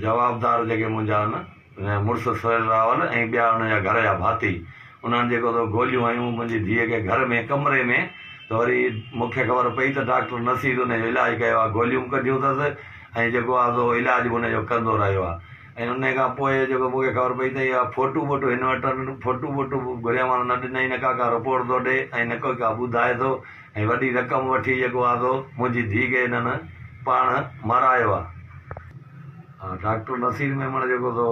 جوابدار جيڪي منهنجا هن مڙس سهيل راول ۽ ٻيا ان جا گهر جا ڀاتي انهن جيڪو سو گوليون هنيون منهنجي ڌيء کي گهر ۾ ڪمري ۾ ته وري مون کي خبر پئي ته ڊاڪٽر نصير ان جو علاج ڪيو آهي گوليون به ڪڍيون اٿس ۽ جيڪو آهي سو علاج به ان جو ڪندو رهيو آهي ۽ ان کان پوء جيڪو مون کي خبر پئي ته اها فوٽو ٻوٽو هن وٽ آهن فوٽو ٻوٽو به گهريامانس نه ڏنائين نه ڪا ڪا رپورٽ ٿو ڏي ۽ نه ڪوئي ڪا ٻڌائي ٿو ۽ وڏي رقم وٺي يڳو آزو منهنجي ڌيء کي هنن پاڻ مارايو آ. ڊاڪٽر نصير ميمڻ جيڪو سو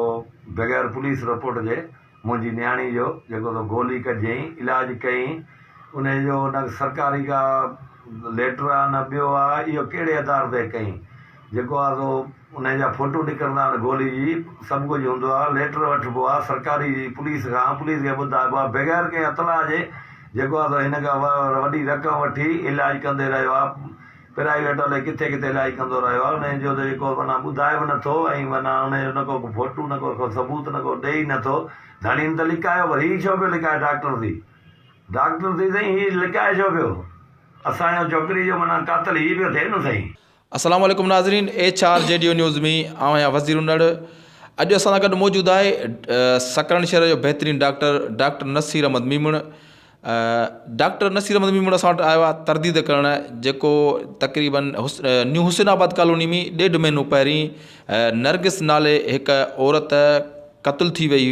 بغير پوليس رپورٽ جي منهنجي نياڻي جو جيڪو سو گولي ڪجين علاج ڪيئين انهي جو نه سرڪاري ڪا ليٽر آ نه ٻيو آ اهو ڪهڙي آڌار تي ڪيئين. جيڪو آ سو انهي جا فوٽو نڪرندا آهن گولي جي سڀ ڪجهه هوندو آ ليٽر وٺبو آ سرڪاري پوليس کان پوليس کي ٻڌائبو آ بغير ڪنهن اطلاع جي جيڪو آ سو هن کان وڏي رقم وٺي علاج ڪندي رهيو آ پرائيويٽ الائي ڪٿي ڪٿي علاج ڪندو رهيو آ انهي جو ته جيڪو معنيٰ ٻڌائي به نه ٿو ۽ معنيٰ انهي جو نه ڪو فوٽو نه ڪو ثبوت نه ڪو ڏئي نه ٿو ڌڻين ته لڪايو پر هي ڇو پيو لڪائي ڊاڪٽر ٿي ڊاڪٽر ٿي سائين هي لڪائي ڇو پيو اسان جو ڇوڪري جو معنيٰ قاتل هي پيو ٿئي نه سائين. السلام عليڪم ناظرين H R G D news ۾ آئون آهيان وزير انڙ اڄ اسان سان گڏ موجود آهي سڪرن شهر جو بهترين doctor doctor Naseer Ahmed Memon doctor Naseer Ahmed Memon اسان وٽ آيو آهي ترديد ڪرڻ جيڪو تقريبن نيو حسين آباد ڪالوني ۾ ڏيڍ مهينو پهرين نرگس نالي هڪ عورت قتل ٿي وئي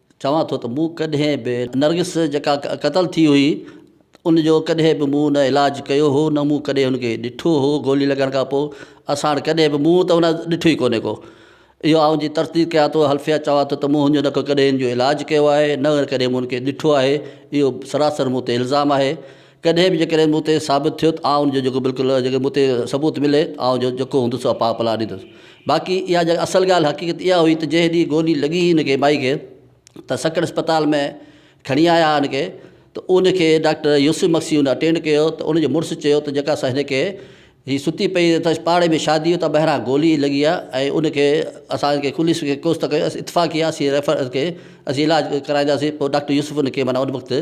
چوان ٿو ته مون ڪڏهن به نرگس جيڪا قتل ٿي هئي ان جو ڪڏهن به مون نه علاج ڪيو هو نه مون ڪڏهن ان کي ڏٺو هو گولي لڳڻ کان پوء اسان وٽ ڪڏهن به منهن ته ان ڏٺو ئي ڪونهي ڪو اهو آئون جي تصديق ڪيان ٿو حلفيه چوان ٿو ته مون هن جو نه ڪو ڪڏهن ان جو علاج ڪيو آهي نه ڪڏهن مون ان کي ڏٺو آهي اهو سراسر مون تي الزام آهي ڪڏهن به جيڪڏهن مون تي ثابت ٿيو ته آء ان جو جيڪو بلڪل جيڪو مون تي ثبوت ملي ته آء جو جيڪو هوندس سو پاء پلاء ڏيندس باقي اها جيڪا اصل ڳالهه حقيقت اها هئي ته جنهن ڏينهن گولي لڳي هن کي مائي کي ته سکر اسپتال ۾ کڻي آيا هئا ان کي ته ان کي ڊاڪٽر يوسف مگسي ان اٽينڊ ڪيو ته ان جو مڙس چيو ته جيڪا سا هن کي هي ستي پئي اٿس پاڙي ۾ شادي اتان ٻهران گولي لڳي آ ۽ ان کي اسان کي خليس کي ڪوس ته ڪيو اتفاق ڪي اسين ريفر ان کي اسين علاج ڪرائينداسين پوء ڊاڪٽر يوسف ان کي معنيٰ ان وقت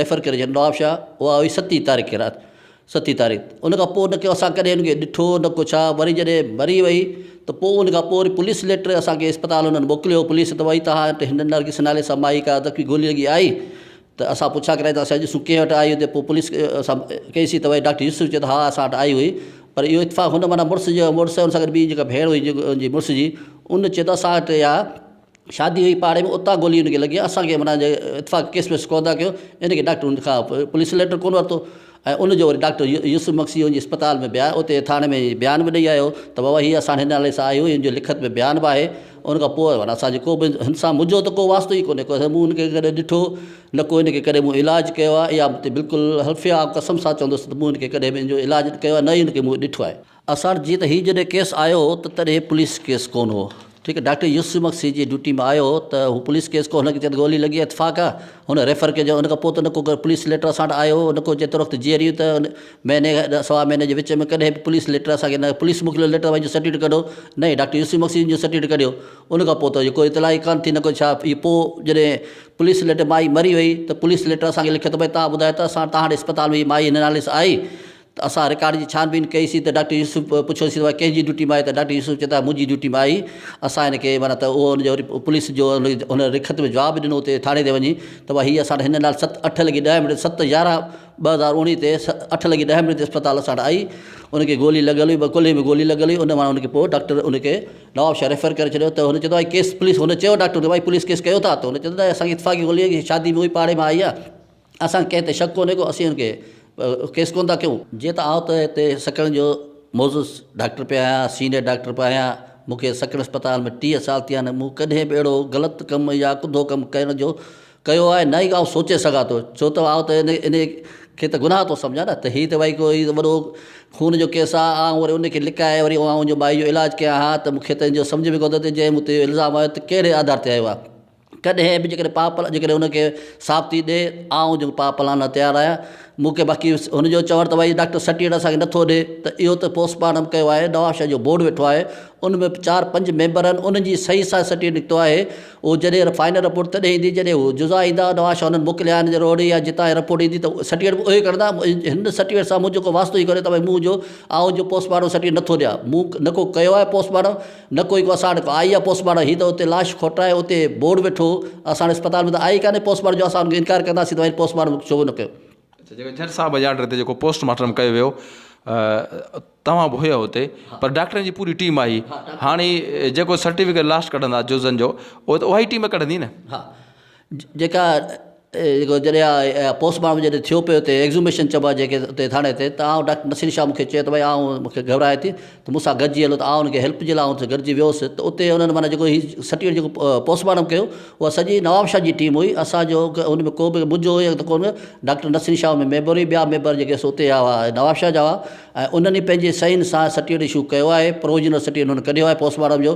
ريفر ڪري ڇڏيو نوابشاهه اها هئي ستي تاريخ کي رات ستي تاريخ ان کان پوء نڪو اسان ڪڏهن ان کي ڏٺو نه ڪو ڇا وري جڏهن مري وئي ته پوء ان کان پوء وري پوليس ليٽر اسان کي اسپتال انهن موڪليو پوليس ته وئي تها وٽ هن نرگس نالي سان مائي ڪا ته ڪي گولي لڳي آئي ته اسان پڇا ڪرايا ته اسان اڄ سون ڪنهن وٽ آئي هئي ته پوء پوليس سان ڪئي سي ته وائي ڊاڪٽر يوسف چيو ته ها اسان وٽ آئي هئي پر اهو اتفاق هن معنيٰ مڙس جو مڙس ۽ ان سان گڏ ٻي جيڪا ڀيڻ هئي جيڪو ان جي مڙس جي ان چيو ته اسان وٽ اها شادي هئي پاڙي ۾ اتان گولي ان کي لڳي آهي اسان کي معنيٰ اتفاق ڪيس ويس ڪونه ٿا ڪيون ان کي ڊاڪٽر ان کان پوليس ليٽر ڪونه ورتو ۽ ان جو وري ڊاڪٽر يوسف مگسي هن جي اسپتال ۾ به آيو اتي ٿاڻي ۾ بيان به ڏئي آيو ته بابا هي اسان هن نالي سان آئي هئي هن جو لکت ۾ بيان به آهي ان کان پوء ورنه اسان جو ڪو به هن سان منهنجو ته ڪو واسطو ئي ڪونهي ڪو مون هن کي ڪڏهن ڏٺو نه ڪو هن کي ڪڏهن مون علاج ڪيو آهي اها مون تي بلڪل حلف آ قسم سان چوندس ته مون هن کي ڪڏهن به هن جو علاج ڪيو آهي نه ئي هن کي مون ڏٺو آهي. اسان جي ته هي جڏهن ڪيس آيو هو ته تڏهن هي پوليس ڪيس ڪون هو ٺيڪ ڊاڪٽر يوسف مگسي جي ڊيوٽي ۾ آيو هو ته هو پوليس ڪيس ڪو هن کي چئي ته گولي لڳي اتفاق آ هن ريفر ڪجو ان کان پوء ته نه ڪو پوليس ليٽر اسان وٽ آيو هو نه ڪو جيترو وقت جيئري هئي ته مهيني کان سوا مهيني جي وچ ۾ ڪڏهن به پوليس ليٽر اسان کي نه پوليس موڪليو ليٽر وڃي سرٽيفڪيٽ ڪڍو نه هي ڊاڪٽر يوسف مگسي جو سرٽيفڪيٽ ڪڍيو ان کان پوء ته ڪو اطلاع ئي ڪانه ٿي نه ڪو ڇا هي پوء جڏهن پوليس ليٽر مائي مري وئي ته پوليس ليٽر اسان کي لکيو ته ڀئي تان ٻڌايو ته اسان تان وٽ اسپتال ۾ هي مائي هن نالي سان آئي ته اسان رڪارڊ جي ڇان بين ڪئي سين ته ڊاڪٽر يوسف پڇيو سين ته اها ڪنهن جي ڊيوٽي مان آهي ته ڊاڪٽر يوسف چئي ٿا منهنجي ڊيوٽي مان آهي اسان هن کي معنيٰ ته اهو ان جو پوليس جو هن رخت ۾ جواب ڏنو اتي ٿاڻي تي وڃي ته بابا هي اسان هن نال ست اٺ لڳي ڏهه منٽ ست يارهن ٻه هزار اوڻيهه تي اٺ لڳي ڏهه منٽ تي اسپتال اسان وٽ آئي ان کي گولي لڳل هئي ٻه ڪلهي ۾ گولي لڳل هئي ان مان ان کي پوء ڊاڪٽر ان کي نواب شاهه ريفر ڪري ڇڏيو ته هن چئي ٿو ڀاء ڪيس پوليس هن چيو ڊاڪٽر کي ڀاء پوليس ڪيس ڪيو ٿا ته هن چئي ٿو نه اسان کي اتفاقي گولي آهي شادي ۾ هئي پاڙي مان آئي آهي اسان کي ڪنهن تي شڪ ڪونهي ڪو اسين ان کي ڪيس ڪونه ٿا ڪيون. جيئن ته آئون ته هتي سڪڻ جو معزز ڊاڪٽر پيو آهيان سينئر ڊاڪٽر پيو آهيان مون کي سڪڻ اسپتال ۾ ٽيهه سال ٿيا آهن مون ڪڏهن به اهڙو غلط ڪم يا ڪڌو ڪم ڪرڻ جو ڪيو آهي نه ئي آئون سوچي سگهان ٿو ڇو ته آئون ته ان کي ته گناهه ٿو سمجهان نه ته هي ته ڀائي ڪو وڏو خون جو ڪيس آهي آئون وري ان کي لڪائي وري آئون مائي جو علاج ڪيان ها ته مون کي ته ان جو سمجهه ۾ ڪونه ٿو اچي جنهن مون تي الزام هنيو ته ڪهڙي آڌار تي هنيو آهي ڪڏهن به جيڪڏهن پاء پلان جيڪڏهن ان کي ثابتي ڏي آئون جيڪو پاء پلان لاء تيار آهيان مون کي باقي هن جو چوڻ ته ڀائي ڊاڪٽر سرٽيفڪيٽ اسان کي نٿو ڏي ته اهو ته پوسٽ مارٽم ڪيو آهي نواب شاهه جو بورڊ ويٺو آهي ان ۾ چار پنج ميمبر آهن انهن جي صحيح سان سرٽيفڪيٽ نڪتو آهي اهو جڏهن فائنل رپورٽ تڏهن ايندي جڏهن هو جزا ايندا نواب شاهه انهن موڪليا آهن روهڙي يا جتان هي رپورٽ ايندي ته سرٽيفڪيٽ به اهي ڪڍندا هن سرٽيفڪيٽ سان منهنجو ڪو واسطو ئي ڪونهي ته ڀائي مون جو آئون جو پوسٽ مارٽم سرٽيفڪيٽ نٿو ڏيان مون نڪو ڪيو آهي پوسٽ مارٽم نه ڪوئي ڪو اسان وٽ آئي آ پوسٽ مارٽم هي ته اتي لاش کوٽائي اتي بورڊ وٺو اسان وٽ اسپتال ۾ ته آئي ڪانهي پوسٽ مارٽم جو اسان ان کان انڪار ڪنداسين ته وري پوسٽ مارٽم ڇو نه ڪيو. اچا جيڪو جج صاحب جي آرڊر تي جيڪو پوسٽ مارٽم ڪيو ويو توهان به هيا اتي پر ڊاڪٽرن جي پوري ٽيم آئي هاڻي جيڪو سرٽيفڪيٽ لاش ڪڍندا جزن جو اهو ته اها ئي ٽيم ڪڍندي نه. ها جيڪا جيڪو جڏهن اها پوسٽ مارٽم جڏهن ٿيو پيو اتي ايگزوميشن چئبو آهي جيڪي اتي ٿاڻي تي ته آئون ڊاڪٽر نصير شاهه مونکي چيو ته ڀاء آئون مونکي گهبراهي ٿي ته مون سان گڏجي هلو ته آئون ان کي هيلپ جي لاء اتي گڏجي ويو هوس ته اتي انهن معنيٰ جيڪو هي سرٽيفڪيٽ جيڪو پوسٽ مارٽم ڪيو اها سڄي نواب شاهه جي ٽيم هئي اسانجو ان ۾ ڪوبه منهنجو هيو ته ڪونه ڊاڪٽر نصير شاهه ۾ ميمبر هئي ٻيا ميمبر جيڪي سو اتي هئا نواب شاهه جا هئا ۽ انهن ئي پنهنجي صحين سان سرٽيفڪيٽ اشو ڪيو آهي پروجنل سرٽيفڪيٽ انهن ڪڍيو آهي پوسٽ مارٽم جو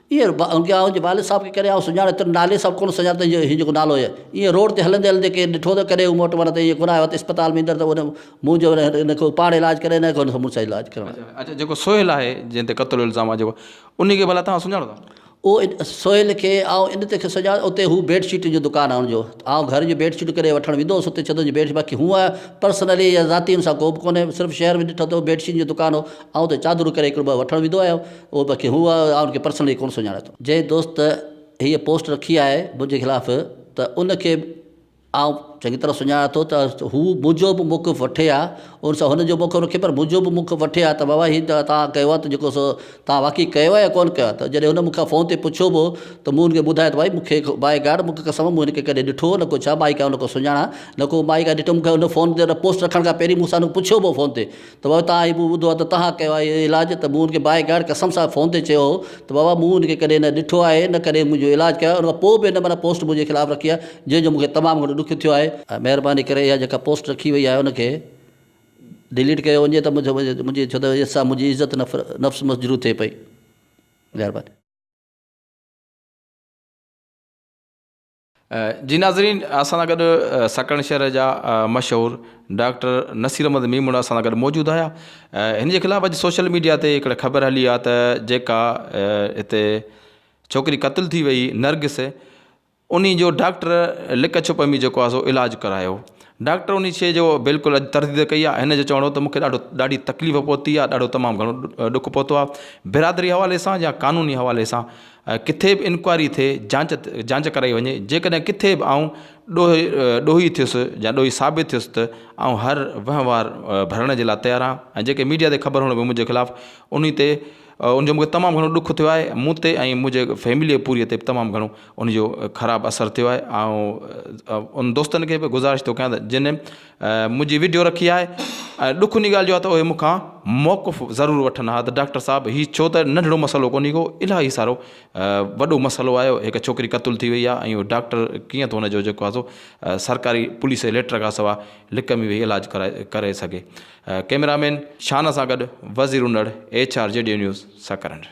ايئن اڳيان آئون جي والد صاحب کي ڪڏهن آئون سڃاڻي تن نالي سان به ڪونه سڃاڻان ته هيء جيڪو نالو هيء ايئن روڊ تي هلندي هلندي ڪنهن ڏٺو ته ڪڏهن مون وٽ ورنه ته ايئن ڪونه آيو آهي ته اسپتال ۾ ايندڙ ته ان منهن جو ورنه هن کي پاڻ علاج ڪري نه ڪونه مڙس علاج ڪرڻ آيو اڇا جيڪو سهيل آهي جنهن تي قتل الزام آهي جيڪو ان کي ڀلا توهان سڃاڻو ٿا او سهيل کي آئون ان ڪري سڃاڻان اتي هو بيڊ شيٽ جو دڪان آهي ان جو آئون گهر جون بيڊ شيٽون ڪڏهن وٺڻ ويندو هوس اتي چوندو هوس بيڊ باقي هونء پرسنلي يا ذاتي هن سان ڪوبه ڪونه صرف شهر ۾ ڏٺو ته بيڊ شيٽ جو دڪان هو آئون ته چادرون ڪري هڪڙو ٻه وٺڻ ويندو آهيان اهو باقي هو آء ان کي پرسنلي ڪونه سڃاڻان ٿو. جنهن دوست هيء پوسٽ رکي آهي منهنجي خلاف ته ان کي به آئون چڱي طرح سڃاڻان ٿو ته هو منهنجو به موقف وٺي ها ان سان هن جو موقف رکي پر منهنجو به موقف وٺي ها ته بابا هي ته توهان ڪيو آهي ته جيڪو سو توهان واقعي ڪيو آهي يا ڪونه ڪيو آهي ته جڏهن هن مون کان فون تي پڇيو به هو ته مون هن کي ٻڌايو ته ڀائي مون کي بائي گاڊ مون کي قسم مون هن کي ڪڏهن ڏٺو نه ڪو ڇا مائي کي آئون نه ڪو سڃاڻان نه ڪو مائي کي ڏٺم کي هن فون تي هن پوسٽ رکڻ کان پهرين مون سان هن پڇيو به هو فون تي ته بابا توهان هي مون ٻڌو آهي ته توهان ڪيو آهي هي علاج ته مون ان کي باء گاڊ قسم سان فون تي چيو هو ته بابا مون ان کي ڪڏهن نه ڏٺو آهي نه ڪڏهن منهنجو علاج ڪيو آهي ان کان پوء به هن منا پوسٽ منهنجي خلاف رکي آهي جنهن جو مون کي تمام گهڻو ڏک ٿيو آهي ۽ مهرباني ڪري اها جيڪا پوسٽ رکي وئي آهي ان کي ڊليٽ ڪيو وڃي ته منهنجي ڇو ته ان سان منهنجي عزت نفس مسجروح ٿئي پئي مهرباني. جي ناظرين اسان سان گڏ سڪڻ شهر جا مشهور ڊاڪٽر نصير احمد ميمڻ اسان سان گڏ موجود آيا هن جي خلاف اڄ سوشل ميڊيا تي هڪڙي خبر هلي آ ته جيڪا هتي ڇوڪري قتل ٿي وئي نرگس انهي جو ڊاڪٽر لڪ ڇپ ۾ جيڪو آ سو علاج ڪرايو ڊاڪٽر انهي شي جو بلڪل اڄ ترديد ڪئي آ هن جو چوڻ هو ته مونکي ڏاڍو ڏاڍي تڪليف پهتي آ ڏاڍو تمام گهڻو ڏک پهتو آ برادري حوالي سان يا قانوني حوالي سان ڪٿي به انڪوائري ٿئي، جاچ جاچ ڪرائي وڃي، جيڪڏهن ڪٿي به آئون ڏوهي ڏوهي ٿيس يا ڏوهي ثابت ٿيس ته آئون هر وهنوار ڀرڻ جي لاء تيار آهيان ۽ جيڪي ميڊيا تي خبر هڻبيون منهنجي خلاف انهي تي ان جو مونکي تمام گهڻو ڏک ٿيو آهي مون تي ۽ منهنجي فيمليء پوريء تي به تمام گهڻو ان جو خراب اثر ٿيو آهي آئون ان دوستن کي به گذارش ٿو ڪيان ته جن منهنجي ويڊيو رکي آهي ۽ ڏک انهي ڳالهه جو آهي ته اهي مون کان موقف ضرور وٺن ها ته ڊاڪٽر صاحب هي ڇو ته ننڍڙو مسئلو ڪونهي ڪو الاهي سارو وڏو مسئلو آهي هڪ ڇوڪري قتل ٿي وئي آهي ۽ ڊاڪٽر ڪيئن ٿو ان جو جيڪو آهي سو سرڪاري پوليس جي ليٽر کان سواء لڪ ۾ ويهي علاج ڪرائي ڪري سگهي ڪيمرا مين شان سان گڏ Wazir Unar H R G D news Sakrand